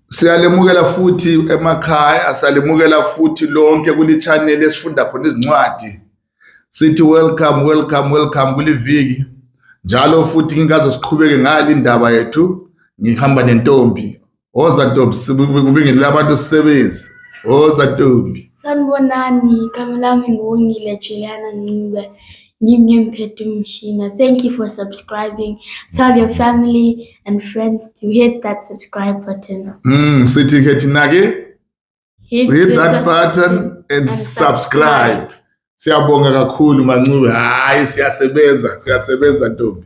Siyalemukela futhi emakhaya, siyalemukela futhi lonke kuli-channel esifunda khona izincwadi. Sithi welcome, welcome, welcome kuliviki. Njalo futhi ngikaze siqhubeke ngale indaba yethu ngihamba nentombi. Woza ntombi kubingelele abantu sisebenzi. Woza ntombi. Sanibonani, igama lami nguWongile Juliana Ncube. Ngimnyem Phedu Mshina. Thank you for subscribing. Tell your family and friends to hit that subscribe button. Mm, sithi ke thina ke hit, hit that button and, and subscribe. Siyabonga kakhulu Mancube. Hayi siyasebenza, siyasebenza ntombi.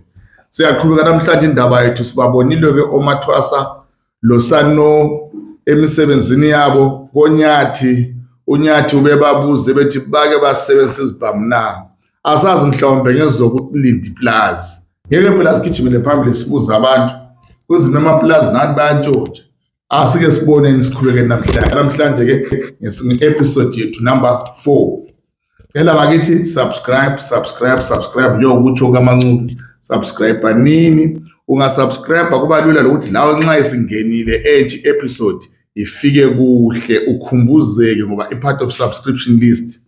Siyaqhubeka namhlanje indaba yethu sibabonile ke omathwasa losano emisebenzini yabo konyathi unyathi ubebabuze bethi bake basebenzisa izibhamu na asazi mhlawumbe ngezokulinda ipulazi ngeke phela sigijimele phambili sibuze abantu kuzima amapulazi nani bayantshontsha asike siboneni sikhuleke namhlanje namhlanje ke ngesinye episode yethu number 4 Cela bakithi subscribe subscribe subscribe njengokutsho kaMancube subscribe nini ungasubscribe kuba lula lokuthi lawe nxa isingenile ethi episode ifike kuhle ukhumbuzeke ngoba i part of subscription list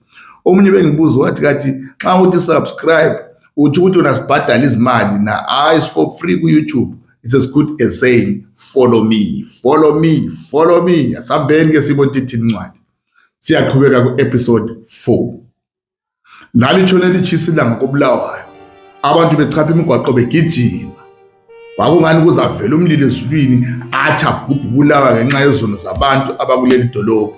omunye bengibuza wathi kathi nxa uthi subscribe uthi ukuthi wena sibhadala izimali na hayi for free ku YouTube it's as good as saying follow me follow me follow me asambeni ke sibona ithini incwadi siyaqhubeka ku-episode 4 lalishona lishisa ilanga kobulawayo abantu bechapha imigwaqo begijima kwakungani kuze avele umlilo ezulwini athi abhubhe ubulawa ngenxa yezono zabantu abakuleli dolobha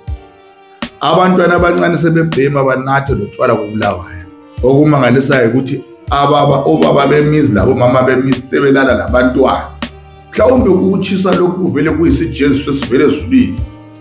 abantwana abancane sebebhema banathe lotshwala kobulawayo okumangalisayo ukuthi ababa obaba bemizi labo mama bemizi sebelala labantwana mhlawumbe ukuchisa lokhu kuvele kuyisijeziso esivele ezulwini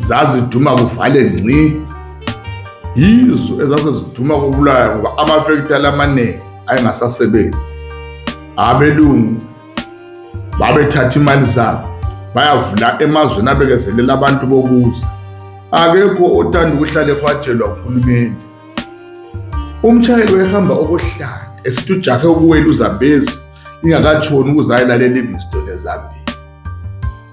zaziduma kuvale ngci yizo ezase ziduma kubulayo ngoba amafektali amaningi ayengasasebenzi abelungu babethatha imali zabo bayavula emazweni abekezelela abantu bokuza akekho othanda ukuhlala ehwajelwa uhulumeni umshayeli wayehamba okohlala esithi ujahe ukuwela uzambezi ingakatshoni ukuze ayelalela i-livingston ezambia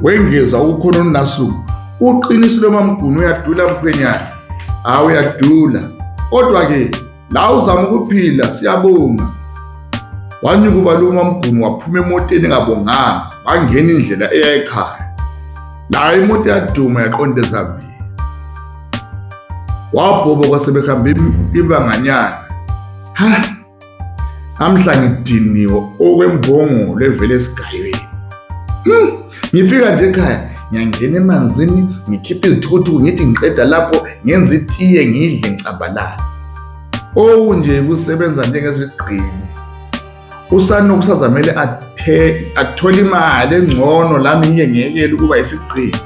wengeza ukukhona uNasuku uqinisile mamgunu uyadula mkhwenyana hawu uyadula kodwa-ke la uzama ukuphila siyabonga wanyuka ubalume mamgunu waphuma emoteni engabonganga bangena indlela eya ekhaya la imoto yaduma yaqonda ezambini wabhoboka sebehamba ibanganyana ha amhla ngidiniwe okwembongolo evele esigayweni hmm, ngifika nje ekhaya ngiyangena emanzini ngikhiphe izithukuthuku ngithi ngiqeda lapho ngenza itiye ngidle ngicabalala okunje kusebenza njengesigqili usanoku sazamele athole imali engcono lami ngiye ngiyekele ukuba isigqili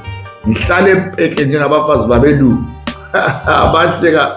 ngihlale epekle njengabafazi babelungu abahleka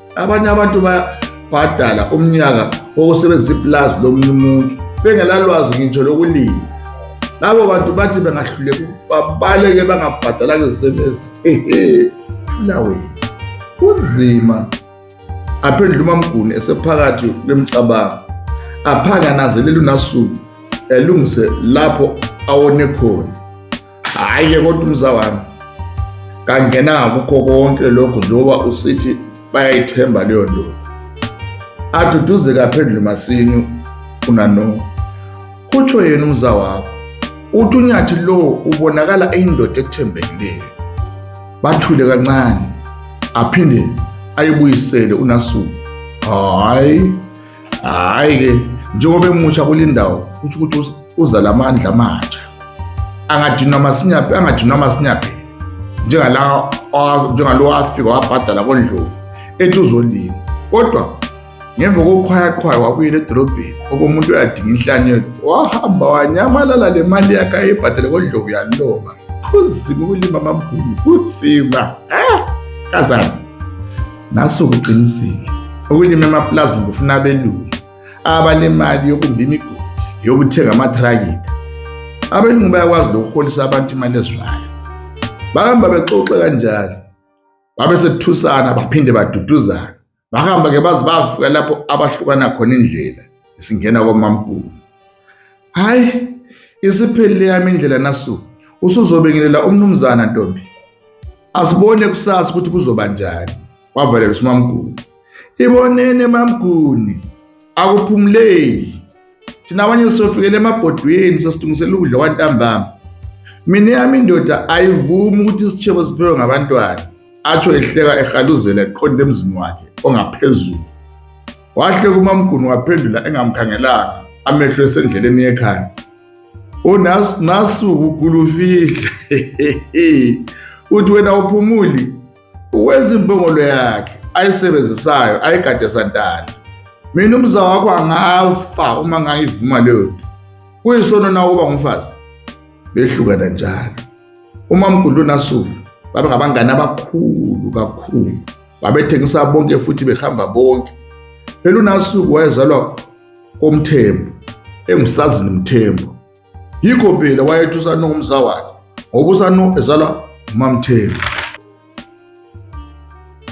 abanye abantu bayabhadala umnyaka wokusebenzisa ipulazi lomunye umuntu bengelalwazi ngitsho lokulima labo bantu bathi bengahluleka babaleke bangabhadalanga izisebenzi fulaweni kunzima aphendula umamguni esephakathi kwemicabango aphange ananzelele unasuku elungise lapho awone khona hhayi ke kodwa umza wami kangena kukho konke lokhu njengoba usithi bayayithemba leyo nto aduduze kaphendle masini unano kutsho yena umza wakho uthi unyathi lo ubonakala eyindoda ethembekileyo bathule kancane aphinde ayibuyisele unasuku hhayi Hhayi-ke njengoba emusha kule ndawo kutho ukuthi uza la mandla amatsha angadinwa masinyaphi angadinwa masinyaphi njengala njengalo wafika wabhadala kondlovu ethi uzolima kodwa ngemva kokukhwayaqhwaya wabuyela edolobheni okomuntu uyadinga inhlanyelo wahamba wanyamalala le mali yakhe ayebhadale kondlovu yaloba kunzima ukulima amamkhulu kunzima ah, kazana Nasuku uqinisile ukulima emapulazini kufuna abelungu abalemali yokumba imigodi yokuthenga amathrakita abelungu bayakwazi lokuholisa abantu imali ezwayo bahamba bexoxe kanjalo babe sethusana baphinde baduduzana bahamba ke baze bafika lapho abahlukana khona indlela isingena komamkhulu hayi isiphelile yami indlela nasu usuzobingelela umnumzana ntombi asibone kusasa ukuthi kuzoba njani wavalela usimamguni ibonene mamguni akuphumuleli thina abanye sizofikela emabhodweni sesilungisela ukudla kwantambama mina yami indoda ayivumi ukuthi isitshebo siphewe ngabantwana atsho ehleka ehaluzela eqonde emzini wakhe ongaphezulu Wahle kumamguni waphendula engamkhangelanga amehlo esendleleni yekhaya. Unas nasu ugulufihla. Uthi wena uphumuli uwenza imbongolo yakhe ayisebenzisayo ayigade santana. Mina umza wakho angafa uma ngayivuma leyo nto. Kuyisono na uba umfazi. Behlukana njalo. Umamguni unasu baba ngabangani abakhulu kakhulu. babethengisa bonke futhi behamba bonke phela unasuku wayezalwa komthembu engusazini mthembu yikho phela wayethi usano ngumza wakhe ngoba usano ezalwa umamthembu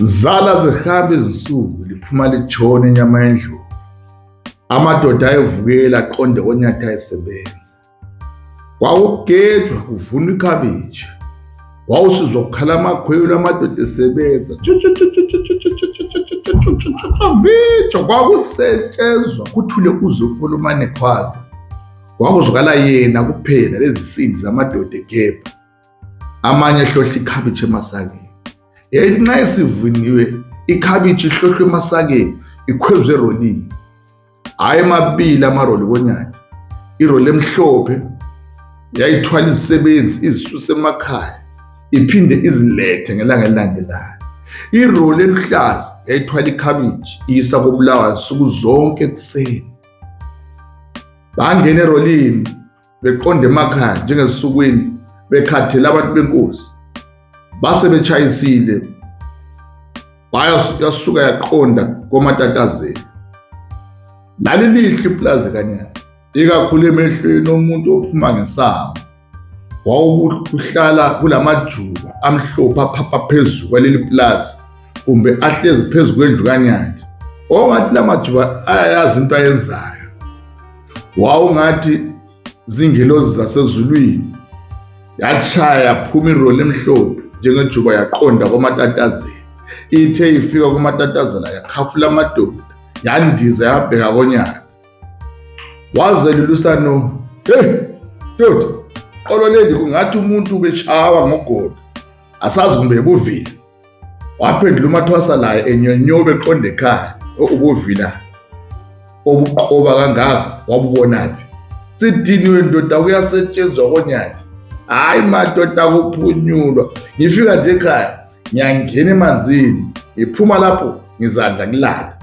zala zihamba izinsuku liphuma litshona inyama yendlovu amadoda ayevukela aqonde onyatha esebenza kwawukugejwa kuvuna ikhabishi wawusizwa kukhala amakhwelo amadoda esebenza vijo kwakusetshenzwa kuthule kuze ufuna umane khwaza kwakuzwakala yena kuphela lezi sindi zamadoda egebha amanye ehlohla ikhabishi emasakeni yayithi nxa isivuniwe ikhabishi ihlohlwe emasakeni ikhwezwe erolini hhayi mabili amaroli konyati iroli emhlophe yayithwala izisebenzi izisuse emakhaya iphinde izilethe ngelanga elilandelayo iroli eluhlaza yayithwala ikhabiji iyisa kobulawayo nsuku zonke ekuseni bangena erolini beqonde emakhaya njengezinsukwini bekhathele abantu benkosi base betshayisile bayasuka yaqonda komatatazeni lali lihle ipulazi kanyana ikakhulu emehlweni omuntu ophuma ngesango wawukuhlala kulamajuba amhlophe aphapha phezulu kwaleli pulazi kumbe ahlezi phezu kwendlu kanyandi ongathi lamajuba ayayazi into ayenzayo wawungathi zingelozi zasezulwini yashaya yaphuma iroli emhlophe njengejuba yaqonda komatatazela ithe ifika komatatazela yakhafula amadoda yandiza yabheka konyaka wazelulusano hey ndoda qolo leli kungathi umuntu ubeshawa ngogodo asazi kumbe ebuvile waphendula umathwasa laye enyonyobe eqonda ekhaya ubuvila obuqoba kangaka wabubonaphi sidiniwe ndoda kuyasetshenzwa konyathi hhayi madoda kuphunyulwa ngifika nje ekhaya ngiyangena emanzini ngiphuma lapho ngizadla kulala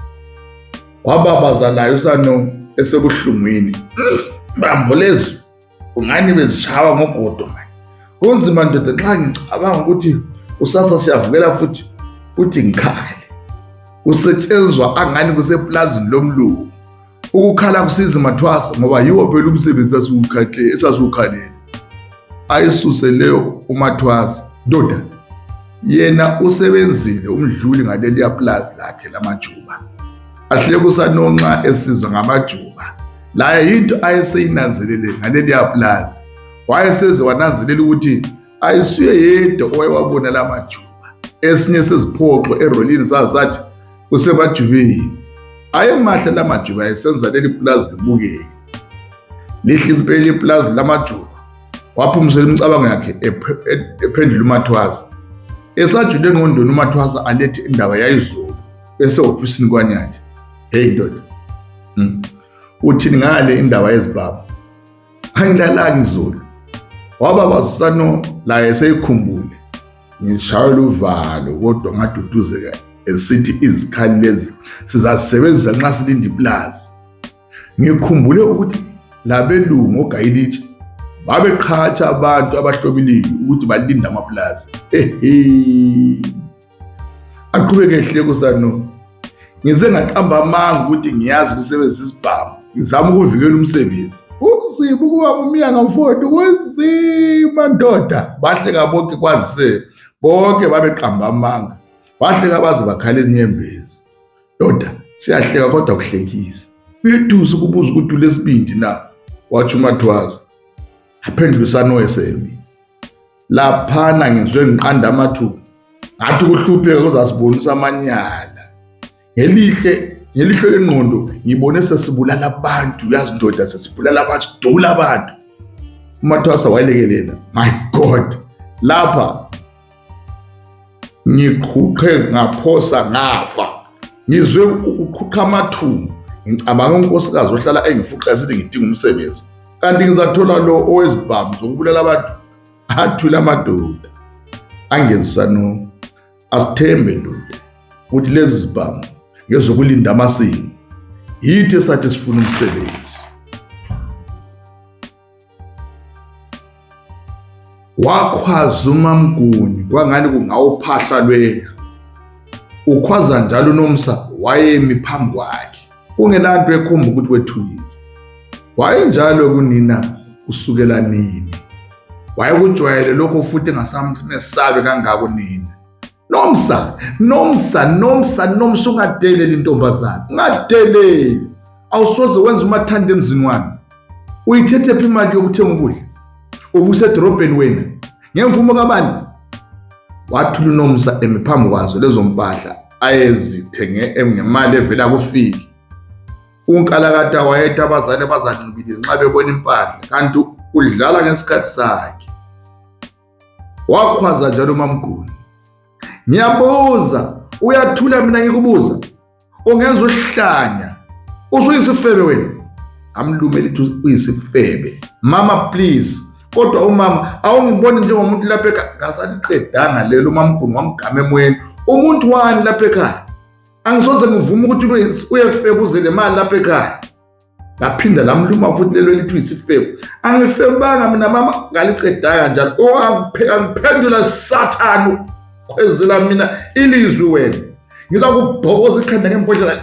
wababaza layo usano esebuhlungwini bambo lezwi Ungani bezishaya ngogodo manje. Kunzima ndoda nxa ngicabanga ukuthi usasa siyavukela futhi uthi ngikhale. Kusetshenzwa angani kusepulazini lomlungu. Ukukhala kusiza mathwasa ngoba yiwo phela umsebenzi sasiwukhahle esasiwukhalele. Ayisuse leyo umathwasa. Ndoda yena usebenzile umdluli ngaleliya pulazi lakhe lamajuba. Ahlekusanonxa esizwa ngamajuba. laye yinto ayeseyinanzelele ngaleliya pulazi wayeseze wananzelela ukuthi ayisuye yedwa owayewabona la majuba esinye seziphoxo erolini sazathi kusemajubeni ayemahle la majuba ayesenza leli pulazi libukeke lihle impela ipulazi lamajuba waphumisela imicabango yakhe ephendula umathwasa esajule engqondweni umathwasa alethe indaba yayizolo esehofisini kwanyathi heyi ndoda hmm. uthini ngale indaba yezibhamu angilalaki izulu waba basano la eseyikhumbule ngishayela uvalo kodwa ngaduduzeka esithi izikhali lezi sizazisebenzisa nxa silinde iplazi ngikhumbule ukuthi labelungu ogayilitshe babeqhatsha abantu abahlobiliyo ukuthi balinde amaplazi ehe aqhubeke ehleko sanoma ngize ngaqamba amanga ukuthi ngiyazi ukusebenzisa isibhamu ngizama ukuvikela umsebenzi kunzima ukuba umyanga mfowethu kunzima ndoda bahleka bonke kwazise bonke babeqamba amanga bahleka baze bakhala izinyembezi ndoda siyahleka kodwa kuhlekisa uyeduza ukubuza ukuthi ulesibindi na watsho umathwaza aphendule usanoesemi laphana ngizwe ngiqanda amathuba ngathi ukuhlupheka kuzasibonisa amanyala ngelihle ngelihlo lengqondo ngibone sesibulala abantu uyazi ndoda sesibulala abantu sidula abantu umathwasa wayelekelela my god lapha ngiqhuqhe ngaphosa ngafa ngizwe ukuqhuqha amathumbu ngicabanga unkosikazi ohlala engifuqa sithi ngidinga umsebenzi kanti ngizathola lo owezibhamu zokubulala abantu athule amadoda angezisanomu asithembe ndoda ukuthi lezi zibhamu ngezokulinda amasini yithi esathi sifuna umsebenzi wakhwaza umamguni kwangani kungawuphahla lwendlu ukhwaza njalo unomsa wayemi phambi kwakhe kungenanto ekhomba ukuthi wethukile wayenjalo kunina kusukela nini wayekujwayele lokho futhi engasamthi nesabe kangako nina nomsa nomsa nomsa nomsa ungadeleli intombazane ungadeleli awusoze wenza umathanda emzini wami uyithethephi imali yokuthenga ukudla ubusedorobheni wena ngemvumo kabani wathula unomsa emi phambi kwazo lezo mpahla ayezithenge ngemali evela kufiki unkalakata wayetha abazali abazancibile nxa bebona impahla kanti udlala ngesikhathi sakhe wakhwaza njalo umamguni ngiyabuza uyathula mina ngikubuza ungenza uhlanya usuyisifebe wena amlume lithi uyisifebe mama please kodwa umama awungiboni njengomuntu lapha ekhaya ngasaliqedanga lelo umamkhulu wamgama emoyeni umuntu wani lapha ekhaya angisoze ngivume ukuthi uyefeba uze le mali lapha ekhaya laphinda lamluma futhi lelo elithi uyisifebu angifebanga mina mama ngaliqedaka njalo owangiphendula oh, sathane khwezela mina ilizwi wena ngiza kubhokoza ikhanda ngembodlela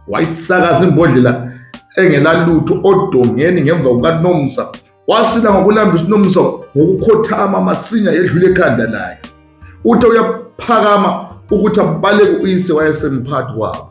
wayisakaza imbodlela engelalutho odongeni ngemva kukanomsa wasila ngokulambisa unomsa ngokukhothama masinya yedlula ekhanda layo uthe uyaphakama ukuthi abaleke uyise wayesemphathi wabo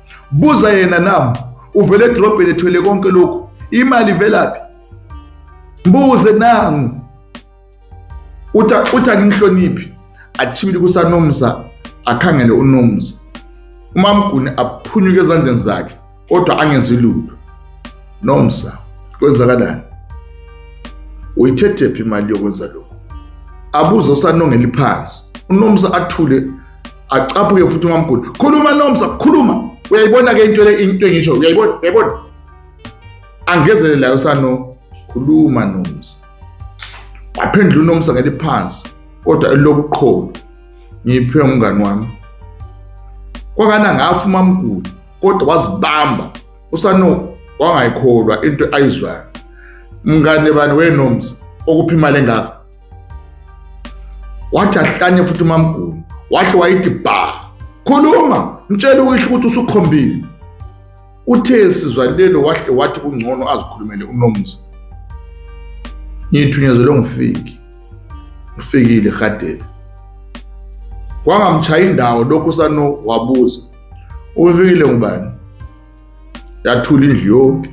buza yena nam uvele edrobheni ethwele konke lokhu imali ivelaphi mbuze nangu uthi uthi angimhloniphi achibile kusanomza akhangele unomza umamguni aphunyuke ezandleni zakhe kodwa angenzi lutho nomsa kwenzakalani uyithethephi imali yokwenza lokho abuze usanongela iphansi unomsa athule acaphuke futhi umamkhulu khuluma nomsa khuluma uyayibona ke into le into engisho uyayibona uyayibona angezelele layo sano khuluma nomsa waphendula unomsa ngeliphansi kodwa elobuqholo ngiphe umngani wami kwakana ngafa umamkhulu kodwa wazibamba usano wangayikholwa into ayizwayo mngane bani wenomsa okuphi imali engaka wathi ahlanye futhi umamgulu wahle wayithi bha khuluma mtshele ukisho ukuthi usukhombile uthe sizwa lelo wahle wathi kungcono azikhulumele unomzi ngithunyezelwe ngifiki ngifikile gadeni kwangamchaya indawo lokhu sano wabuza ufikile ngubani yathula indlu yonke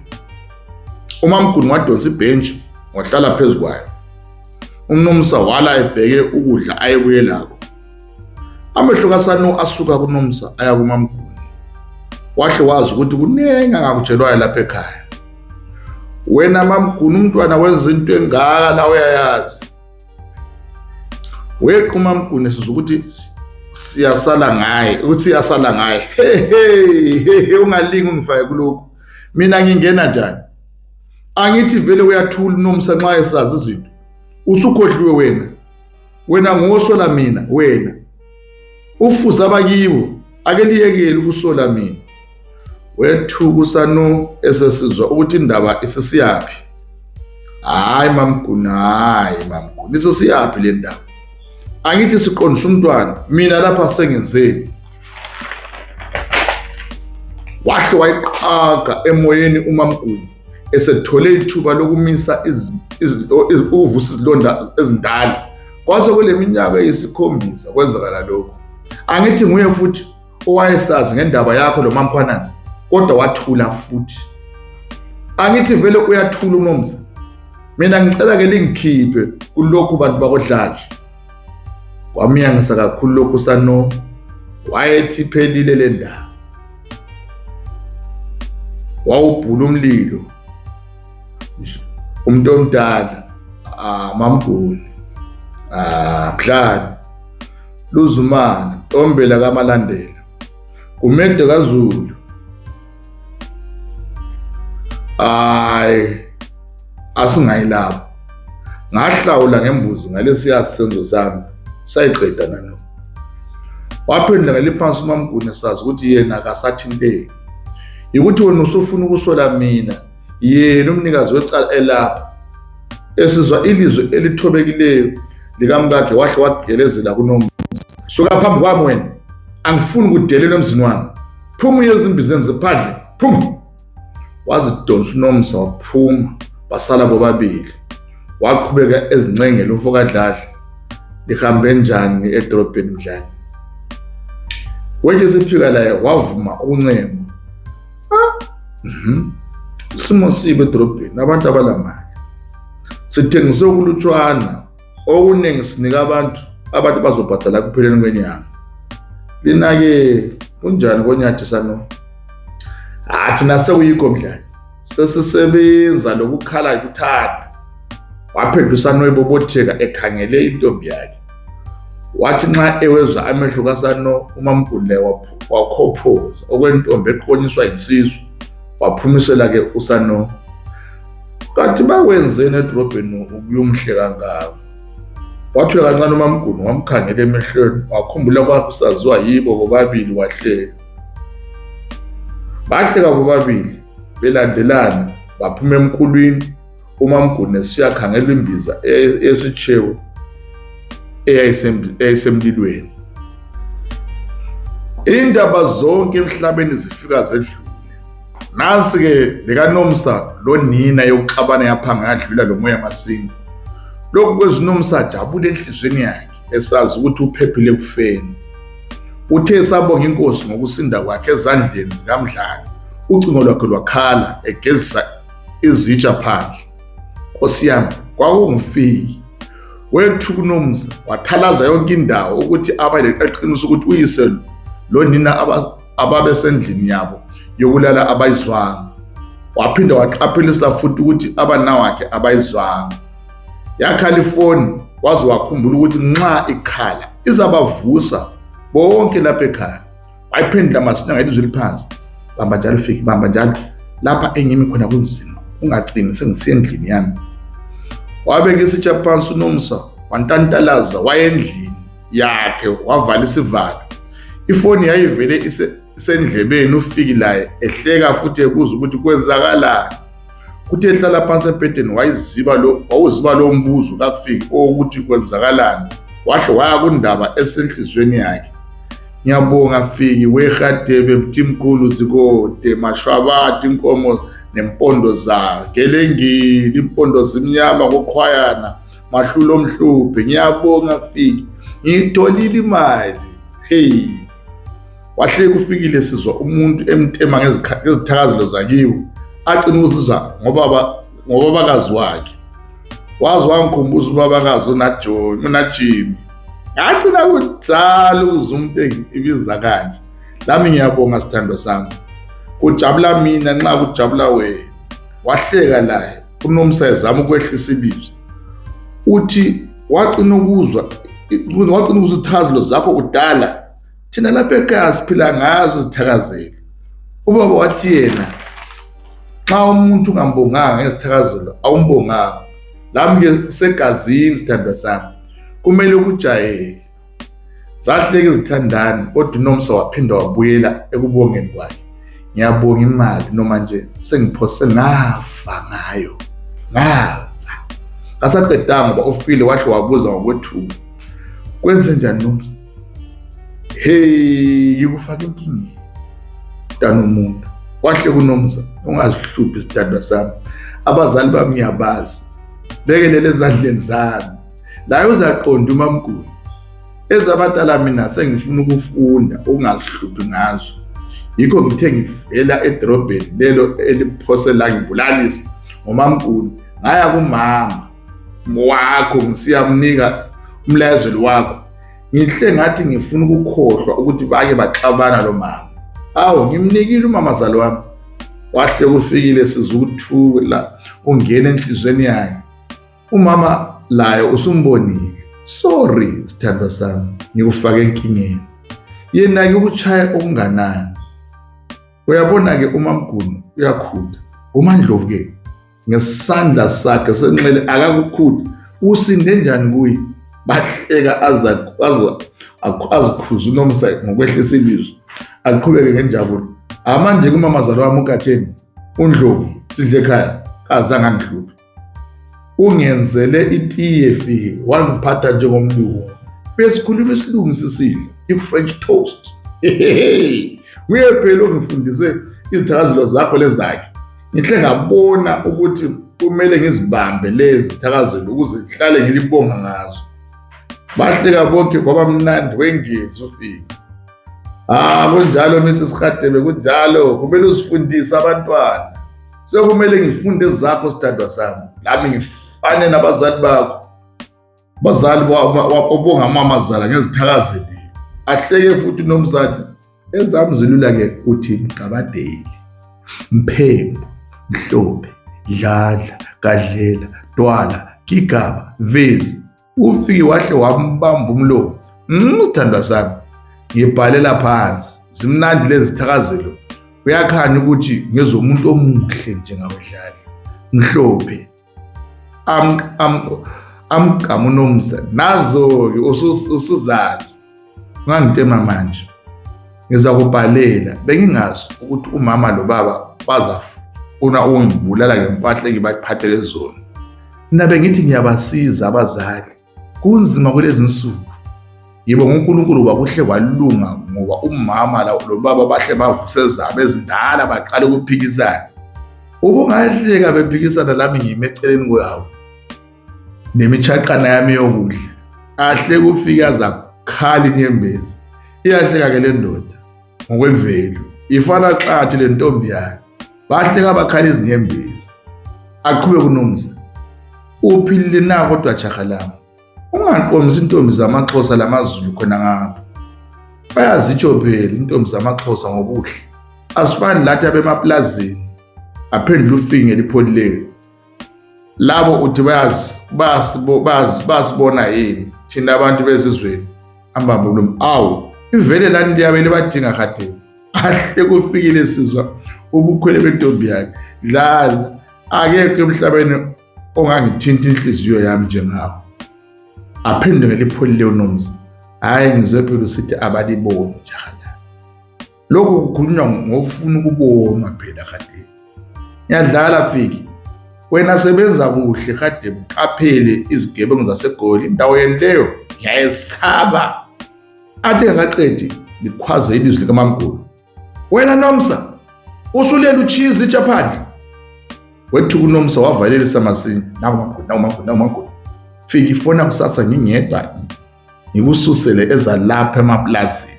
umamguni wadonsa ibhentshi wahlala phezu kwayo umnomsa wala ebheke ukudla ayebuye lako amehlo kasanu asuka kunomsa aya kumamguni wahle wazi ukuthi kuningi angakutshelwayo lapha ekhaya wena mamguni umntwana wenza into engaka la uyayazi wequma mgune sizwa ukuthi siyasala ngaye ukuthi siyasala ngaye hehe ungalingi ungifake kulokhu mina ngingena njani angithi vele uyathula unomsa nxa esazi izinto usukhohliwe wena wena ngosho la mina wena ufuza abakibo ake liyekele ukusola mina wethuka usanu esesizwa ukuthi indaba isesiyaphi hayi mamguna hayi mamguna isesiyaphi le ndaba angithi siqondisa umntwana mina lapha sengenzeni wahle wayiqhaga emoyeni umamguna esethole ithuba lokumisa ukuvusa izilonda ezindala Kwase kule minyaka eyisikhombisa kwenzakala lokhu. Angithi nguye futhi owayesazi ngendaba yakho lo maMkhwanazi kodwa wathula futhi. Angithi vele uyathula uNomsa. Mina ngicela ke lingikhiphe kulokhu bantu bakodladla. Kwamiyangisa kakhulu lokhu sano wayethi phelile le ndaba. Wawubhula umlilo umuntu omdala amamgoli ah, mdlali ah, luzumane ombela kamalandela kumedo kazulu hayi asingayilapho ngahlawula ngembuzi ngalesiya senzo sami sayiqeda nalo waphendula ngeliphansi umamguni sazi ukuthi yena akasathinteki yikuthi wena usufuna ukusola mina yena umnikazi wecala elapho esizwa ilizwi elithobekileyo likamkakhe wahle wagelezela kunomzi suka phambi kwami wena angifuni kudelelwa emzini wami phuma uye ezimbizeni ziphandle phuma wazidonsa unomsa waphuma basala bobabili waqhubeka ezincengela umfo kadladla lihambe njani edolobheni mdlane wethe sifika laye wavuma ukuncenga Mhm. Isimo sibe edrobheni abantu abalamali. Sithengise ukulutshwana okuningi sinika abantu abantu bazobhadala kupheleni kwenyanga. Lina ke kunjani konyathi sano? Athi nasekuyikho mdlali. Sesisebenza lokukhala kuthanda. Waphendusana noyibobotheka ekhangele intombi yakhe. wathi nxa ewezwa amehlo kasano umamgundle wakhophoza okwentombi eqonyiswa yinsizwa waphumisela ke usano kanti bakwenzeni edrobheni ukuyomhle kangako wathula kancane umamguni wamkhangela emehlweni wakhumbula kwakhe usaziwa yibo bobabili wahleka bahleka bobabili belandelana baphuma emkhulwini umamgune siyakhangela imbiza esitshewu eyayisemlilweni indaba zonke emhlabeni zifika zedlule nansi-ke lekanomsa lonina yokuxabana yaphanga yadlula lo moya masinga lokhu kwenza unomsa ajabule enhliziyweni yakhe esazi ukuthi uphephile ekufeni uthe esabonga inkosi ngokusinda kwakhe ezandleni zikamdlali ucingo lwakhe lwakhala egezisa izitsha phandle nkosi yami kwakungifiki wethu kunomza wathalaza yonke indawo ukuthi abale qaqinisa ukuthi uyise lo nina ababesendlini yabo yokulala abayizwanga waphinde waqaphelisa futhi ukuthi abanawakhe abayizwanga yakhala ifoni waze wakhumbula ukuthi nxa ikhala izabavusa bonke lapha ekhaya wayiphendula masinya ngelizwi eliphansi bamba njalo fiki bamba njalo lapha engimi khona kunzima ungacimi sengisiye endlini yami wabeka isitsha phansi unomsa wantantalaza wayendlini yakhe wavala isivalo ifoni yayivele isendlebeni ufiki laye ehleka futhi ebuza ukuthi kwenzakalani Kuthe ehlala phansi embhedeni wayiziba lo wawuziba lo mbuzo kafiki owokuthi kwenzakalani wahle waya kundaba esenhlizweni yakhe. Ngiyabonga Fiki weHadebe Mthimkhulu Zikode Mashwabati inkomo nempondo zayo ngelengili impondo zimnyama koqhwayana mahlulo omhluphe ngiyabonga Fiki ngiyitholile imali hey wahleka ufikile sizwa umuntu emtema ngezithakazelo zakiwe acina ukuzizwa ngobabakazi wakhe waze wangikhumbuza ubabakazi unajimi ngagcina kudala ukuze umuntu ibiza kanje lami ngiyabonga sithandwa sami kujabula mina nxa kujabula wena wahleka naye unomsa ezama ukwehlisa ilizwi uthi wagcina ukuzwa wagcina ukuzwa ithazelo zakho kudala thina lapha ekhaya siphila ngazo izithakazelo ubaba wathi yena xa umuntu ungambonganga ngezithakazelo awumbonganga lami ke usegazini sithandwa sami kumele ukujayele zahleke izithandani kodwa unomsa waphinda wabuyela ekubongeni kwakhe ngiyabonga imali noma nje sengiphose ngafa ngayo ngafa ngasaqedanga ngoba ufile wahle wabuza ngokwethuka kwenze njani nomsa hey yikufaka inkingeni mntana umuntu kwahle kunomza ungazihluphi isithandwa sami abazali bami ngiyabazi bekelele ezandleni zami layo uzaqonda umamgulu ezabadala mina sengifuna ukufunda ukungazihluphi ngazo yikho ngithe ngivela edrobheni lelo eliphose la ngibulalisa ngomamgulu ngaya kumama wakho ngisiyamnika umlayezeli wakho ngihle ngathi ngifuna ukukhohlwa ukuthi bake baxabana lo mama awu ngimnikile umamazali wami wahle kufikile sizukuthuke la ungena enhlizweni yakhe umama layo usumbonile sorry sithandwa sami ngikufake enkingeni yena-ke ukushaya okunganani uyabona-ke umamguni uyakhula umandlovu-ke ngesandla sakhe senxele akakukhulu usinde njani kuye bahleka azikhuza unomsa ngokwehlisa ilizwi aqhubeke ngenjabulo amanje kumamazalo wami ugatsheni undlovu sidle ekhaya kazange angihluphe ungenzele itiye fike wangiphatha njengomlungu besikhuluma isilungu sisidla i-french toast hehehe nguye phela ongifundise izithakazelo zakho lezakhe ngihle ngabona ukuthi kumele ngizibambe lezi thakazelo ukuze ngihlale ngilibonga ngazo bahleka bonke kwaba mnandi wengezi ufika ah kunjalo Mrs Khadebe kunjalo kumele usifundise abantwana sekumele ngifunde zakho sithandwa sami lami ngifane nabazali bakho Bazali obonga amamazala ngezithakazeli ahleke futhi nomzathi ezami zilula ke uthi mgabadeli mphembu mhlophe dladla gadlela twala gigaba vezi ufike wahle wambamba umlomo mthandwa mm, sami ngibhalela phansi zimnandi lezi thakazelo uyakhanya ukuthi ngezomuntu omuhle njengawedlali mhlophe amgqama unomzane nazo-ke usuzazi ungangitema manje ngizakubhalela bengingazi ukuthi umama lo baba bazafuna ukungibulala ngempahla engibaphathele zona mina bengithi ngiyabasiza abazali kunzima kulezi nsuku yebo ngonkulunkulu kwakuhle kwalunga ngoba umama lobaba bahle bavuse zabo ezindala baqale ukuphikisana ubungahleka bephikisana lami ngime eceleni kwawo nemishaqana yami yokudla ahle kufika zakhala inyembezi iyahleka-ke le ndoda ngokwemvelo ifana xathu le ntombi yakhe bahleka bakhala izinyembezi aqhube kunomsa uphilile na kodwa jaha lami ungaqomisi intombi zamaxhosa lamazulu khona ngapha bayazitshobhela intombi zamaxhosa ngobuhle asifani lathi abemaplazini aphendula ufinge lipholileni labo uthi bayazi bayazi basibona yini thina abantu bezizweni ambambe umlomo awu ivele lani liyabe libadinga khatheni ahle kufikile sizwa ubukhwele bentombi yakhe dlala akekho emhlabeni ongangithinta inhliziyo yami njengawo aphinde ngelipholile unomzi hhayi ngizwe phela usithi abaliboni njalo lokho kukhulunywa ngofuna ukuboma phela kade ngiyadlala fiki wena sebenza kuhle kade mqaphele izigebengu zasegoli indawo yeni leyo ngiyayesaba athi engakaqedi likhwaze ilizwi likamamgulu wena nomsa usulela uchizi itsha phandle wethuka unomsa wavalelisa masinya nawu mamgulu nawu mamgulu nawu mamgulu fika ifona kusasa ngingedwa ngikususele ezalapha emapulazini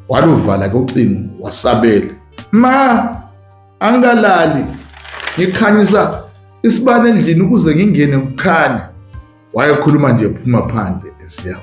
waluvala ke ucingo wasabela ma angalali ngikhanyisa isibane endlini ukuze ngingene kukhanya wayekhuluma nje phuma phandle esiyawo